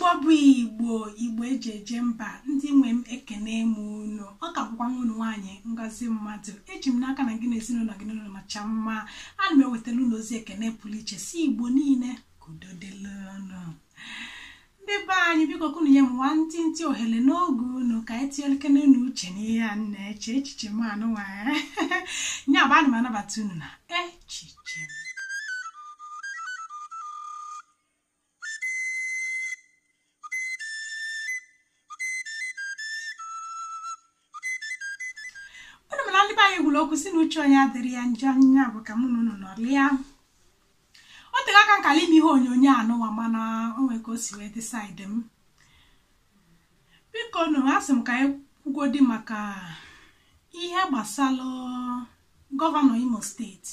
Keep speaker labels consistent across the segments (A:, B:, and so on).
A: igbo bụ igbo igbo eji eje mba ndị nwe m ekene m unu ọ ka bụkwa nwa unu nwaanyị ngozi mmadụ eji m n'aka na gị na ezinụlọ gị n'ụlọ nọcha mma ana m ewetala unu ozi ekene pụrụ iche sị igbo niile ka udo dịla unu ndị be anyị biko ka unu nye m nwantịntị ohere n'oge unu ka anyị tinyelukene nụ uche n'ihe a m na-eche echiche m anụnwa nya bụ ana m anabata unu na echiche m unu ma na ndị be anyị kwuru okwu sị na uche onye adịrị ya njọ nya bụ ka mụ na unu nọrịa o tere aka m kala ime ihe onyonyo anụwa mana o nwere ka o si wee dị side m biko nụ asị m ka anyị kwugodi maka ihe gbasara gọvanọ imo steeti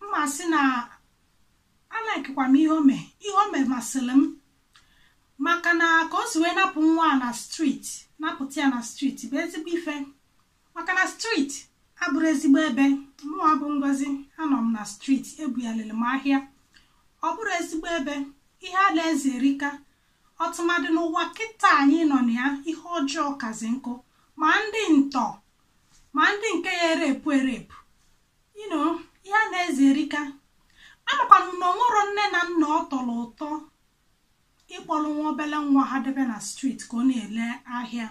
A: m ma sị na alikekwa m ihe o me ihe o me masịrị m maka na ka o si wee napụ nwa a na street napụta ya na street bụ ezigbo ife maka na street abụrọ ezigbo ebe mụwa bụ ngozi anọ m na street ebugharịrị m ahịa ọ bụrọ ezigbo ebe ihe a na-eze erika ọtụmadị n'ụwa kịta anyị nọ na ya ihe ọjọọ kazị nkụ ma ndị ntọ ma ndị nke ya erape erape you know ihe a na-eze erika amakwanụ na o nwerọ nne na nna ọ tọrọ ụtọ ịkpọrọ nwa obere nwa ha debe na street ka ọ na-ele ahịa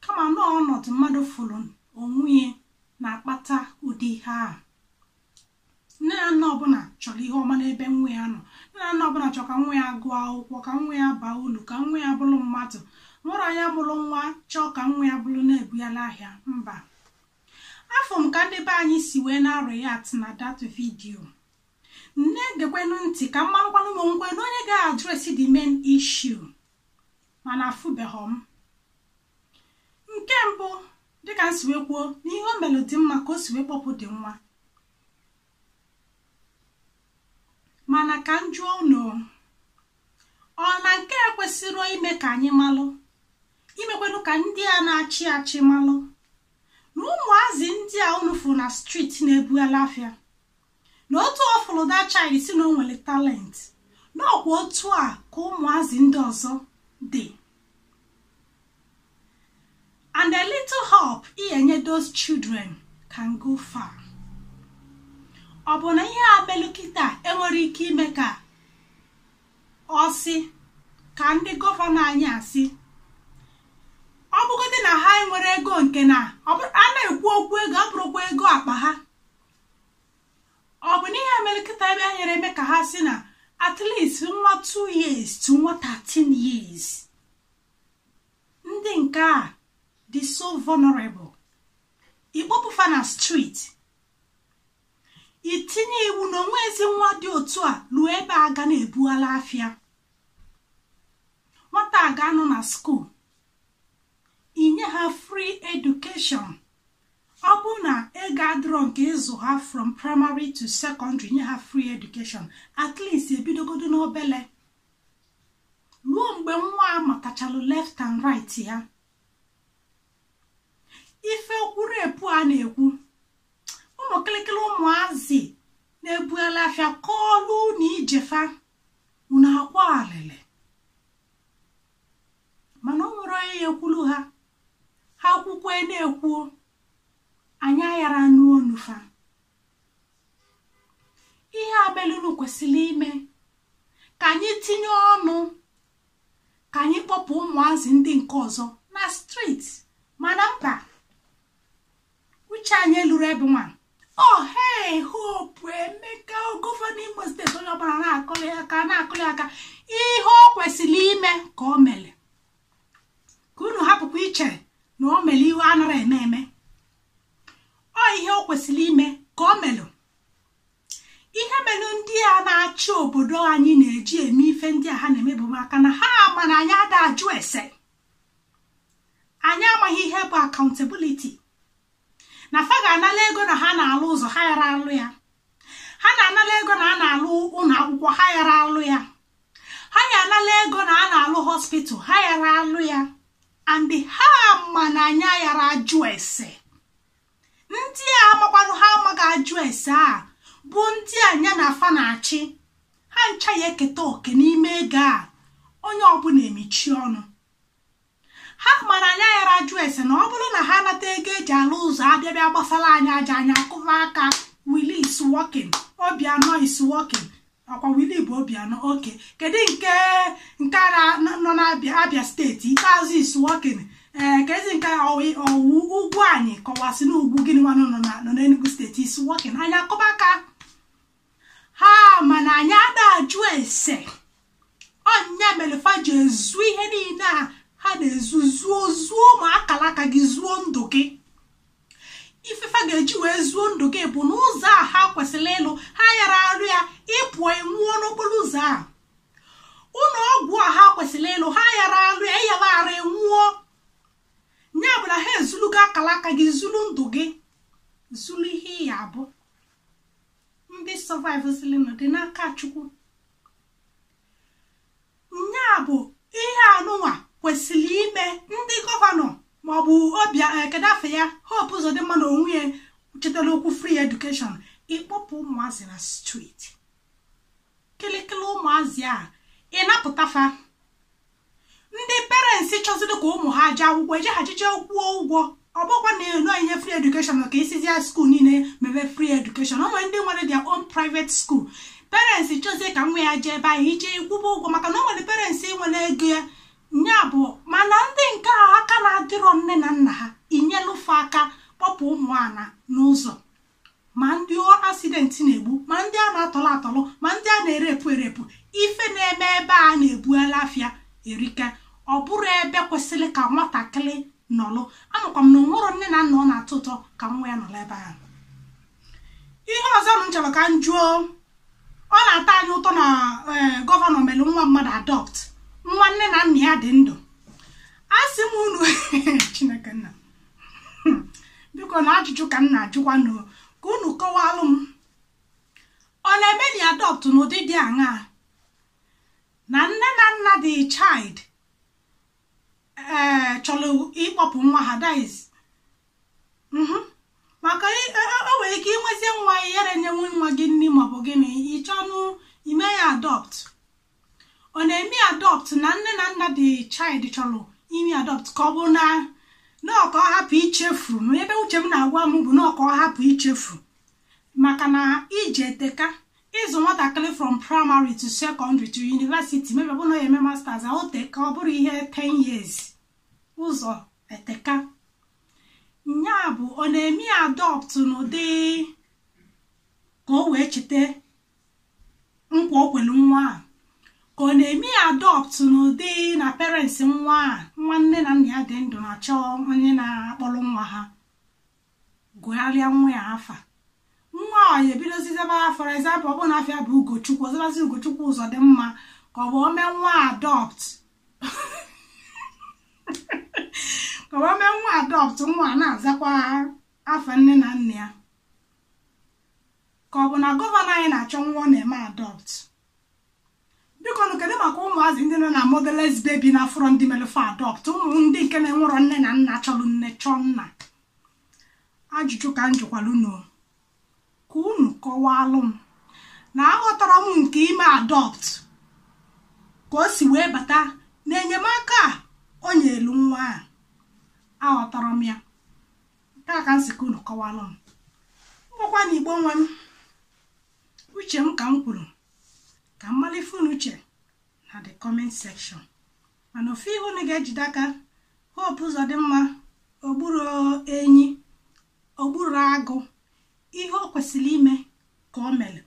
A: kama na ọnọdụ mmadụ fụrụ onwe ya na-akpata ụdị ihe a nne na nna ọbụla chọrọ ihe ọma n'ebe nwa ya nọ nne na nna ọbụla chọrọ ka nwa ya gụọ akwụkwọ ka nwa ya baa ulu ka nwa ya bụrụ mmadụ o nwerọ onye mụrụ nwa chọọ ka nwa ya bụrụ na-ebugharị ahịa mba afụ m ka ndị be anyị si wee na-react na that video m na-egekwenụ ntị ka m marakwanụ ma o nwelụ onye ga-address the main issue mana afụbeghị m nke mbụ dịka m si wee kwuo na ihe o melụ dị mma ka o si wee kpọpụ the nwa mana ka m jụọ unu ọ na nke a ekwesịrọ ime ka anyị malụ imekwanụ ka ndị a na-achị achị malụ na ụmụazị ndị a unu fụ na street na-ebughala afịa na otu ọ fụrụ that child sị na o nwere talent na ọ kwa otu a ka ụmụazị ndị ọzọ dị and a little help ị ya-enye those children can go far ọ bụ na ihe a melụ kịta enwerọ ike ime ka ọ sị ka ndị gọvanọ anyị a sị ọ bụgodị na ha enwerọ ego nke na a na-ekwu okwu ego ọ bụrọkwa ego akpa ha ọ bụ na ihe a mere kịta ebe a nyere eme ka ha sị na at least nwa 2 years to nwa 13 years ndị nke a dị so vulnerable ịkpọpụ fa na street itinye iwu na o nwezi nwa dị otu a ruo ebe a ga na-ebughalị afịa nwata a ga-anọ na school inye ha free education ọ bụ na ego adịrọ nke ịzụ ha from primary to secondary nye ha free education at least ebidogodo n'obele ruo mgbe nwa a matachalụ left and right ya ife okwuru epu a na-ekwu ụmụ kịlịkịlị ụmụazị na-ebughalị afịa kọọlụ na ije fa unu akwa alịlị mana o nwerọ onye ya-ekwulu ha ha kwukwe na-ekwu anyị ayara anụ onu fa ihe abelunu kwesịrị ime ka anyị tinye ọnụ ka anyị kpọpụ ụmụazị ndị nke ọzọ na street mana mba uche anyị luru ebe nwa ohe hope emeka gọvanọ imo steeti onye ọbụla na-akụli aka na-akụli aka ihe o kwesịrị ime ka o mere ka unu hapụkwa iche na o mere ihe a nara eme eme ọ ihe o kwesịrị ime ka o melụ ihe mere ndị a na-achị obodo anyị na-eji eme ife ndị a ha na-eme bụ maka na ha ma na anyị ada ajụ ese anyị amaghị ihe bụ accountability na fa ga-anala ego na ha na-alụ ụzọ ha yara alụ ya ha ga-anala ego na a na-alụ ụlọ akwụkwọ ha yara alụ ya ha ya-anala ego na a na-alụ hospital ha yara alụ ya and ha ma na anyị yara ajụ ese ndị a amakwanụ ha amaghị ajụ ese a bụ ndị nya na fa na-achị ha ncha ya-eketa oke n'ime ego a onye ọbụla emechi ọnụ ha ma na anyị yara ajụ ese na ọ bụrụ na ha nata ego e ji alụ ụzọ abịa bịa gbasara anyị aja anyị akụba aka willie is working obiano is working ọkwa willie bụ obiano okay kedu nke nke a na- nọ n'abia abia steeti ikpeazụ is working ee kezi nke ọwụ- ọwụ ugwuanyị ka ọ sị na ugwu gịnị nwanụ nọ na- nọ n'enugu steeti is working anyị akụba aka ha ma na anyị ada ajụ ese ọ nya mere fa ji ezu ihe niile a ha na-ezu zuo zuo ma akara aka gị zuo ndụ gị ife fa ga-eji wee zuo ndụ gị bụ na ụzọ a ha kwesịrị ịlụ ha yara arụ ya ị pụọ ị nwụọ n'okporo ụzọ a ụlọ ọgwụ a ha kwesịrị ịlụ ha yara arụ ya ị yaa arụ ị nwụọ ya bụ na ha ezulugo akara aka gị zuru ndụ gị zuru ihe ị ya-abụ ndị survive silinụ dị n'aka chukwu nya bụ ihe a nụnwa kwesịrị ime ndị gọvanọ maọbụ obi eh, kedu afa ya hope ụzọdịmma na onwe ya chetara okwu free education ịkpọpụ ụmụazị na street kịlịkịlị ụmụazị a ịnapụta fa ndị parents chọziri ka ụmụ ha jee akwụkwọ eje ha jije kwụọ ụgwọ ọ bụkwa na inye free education ka ị sịzịa school niile mebe free education o nwere ndị nwere their own private school parents chọzie ka nwa ya jee ebe ahụ ije kwụba ụgwọ maka na o nwere parents nwere ego ya nya bụ mana ndị nke aka na-adịrọ nne na nna ha inyelu fa aka kpọpụ ụmụ a nọ n'ụzọ ma ndị accident na-egbu ma ndị a na-atọlụ atọlụ ma ndị a na-erepụ erepụ ife na-eme ebe a na-ebughalị afịa erika ọ bụrọ ebe kwesịrị ka nwatakịrị nọlụ amakwa m na o nwerọ nne na nna ọ na-atọ ụtọ ka nwa ya nọrọ ebe ahụ ihe ọzọ m chọrọ ka m jụọ ọ na-atọ anyị ụtọ na eh, gọvanọ mere nwa mmadụ adopt nwa nne na nna ya dị ndụ a sị m unu chineke nna biko na ajụjụ ka m na-ajụkwanụ ka unu kọwalụ m ọ na-eme ya adopt n'ụdị dị aṅaa na nne na nna the child ee eh, chọrọ ịkpọpụ nwa ha that is mhm. maka e, e, e, o nwere ike inwezie nwa ị yarọ enyenwu nwa gị nri maọbụ gịnị ị chọnụ ime ya adopt ọ na-eme adopt na nne na nna the child chọrọ ime adopt ka ọ bụ na ọ ka ọ hapụ ichefu ma ihe uche m na-agwa m bụ na ọ ka ọ hapụ ichefu maka na ije eteka ịzụ nwatakịrị from primary to secondary to university maybe ọ bụ na ya eme masters ọ teka ọ bụrụ ihe 10 years ụzọ eteka nya bụ ọ na-eme adopt n'ụdị ka o wee cheta nkwa o kwere nwa a ka ọ na-eme ya adopt n'ụdị na parents nwa a nwa nne na nna ya dị ndụ na-achọ onye na-akpọrọ nwa ha gụgharịa nwa a afa nwa a ya ebidozie zaba for example ọ bụrụ na afa ya bụ ugochukwu ọ zabazie ugochukwu ụzọdịmma ka ọ bụ o mee nwa adopt ka ọ bụ o mee nwa adopt nwa a na-azakwa afa nne na nna ya ka ọ bụ na gọvanọ anyị na-achọ nwa ọ na-eme adopt biko nụ kedu maka ụmụazị ndị nọ na motherless baby na afụrọ ndị melu fa adopt ụmụ ndị nke na-enwerọ nne na nna chọrọ nne chọọ nna ajụjụ ka m jụkwara unu ka unu kọwalụ m na aghọtarọ m nke ime adopt ka o si wee bata n'enyemaka a o nyelu nwa a aghọtarọ m ya nke a ka m si ka unu kọwara m ngwakwa nụ igbo nwe m uche m ka m kwuru ka m mara ife unu che na the comment section mana ofu ihe unu ga-ejide aka hope uzodimma ogburu enyi ogburu agụ ihe o kwesịrị ime ka o mere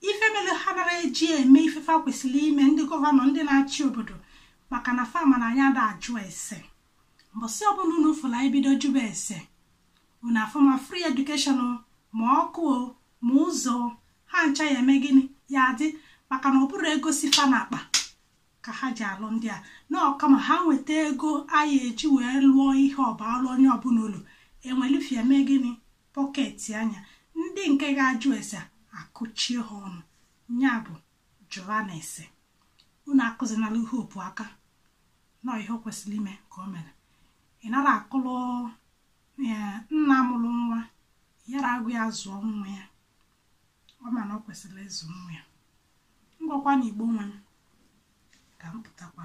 A: ife mere ha nara eji eme ife fa kwesịrị ime ndị gọvanọ ndị na-achị obodo maka na fa ma na anyị ada ajụ ese mbọsị ọbụla unu fụlụ anyị bido jụba ese unu afụ ma free education ma ọkụ ma ụzọ ha ncha ya eme gịnị ya adị maka na ọ bụrọ ego si fa n'akpa ka ha ji alụ ndị a na ọ kama ha weta ego anyị eji wee lụọ ihe ọ baalụ onye ọbụla ulu ewelụ ife a mee gịnị pọketia nya ndị nke ga-ajụ ese akụchie ha ọnụ nya bụ jụbanụ ese unu akụzinala hope aka na ọ ihe o kwesịrị ime ka o mere ị nara akụlụ nna mụrụ nwa ya aka agụ ya zụọ nwa ya ọ ma na o kwesịrị ịzụ nwa ya ngwakwa nụ igbo nwe m ka m pụtakwa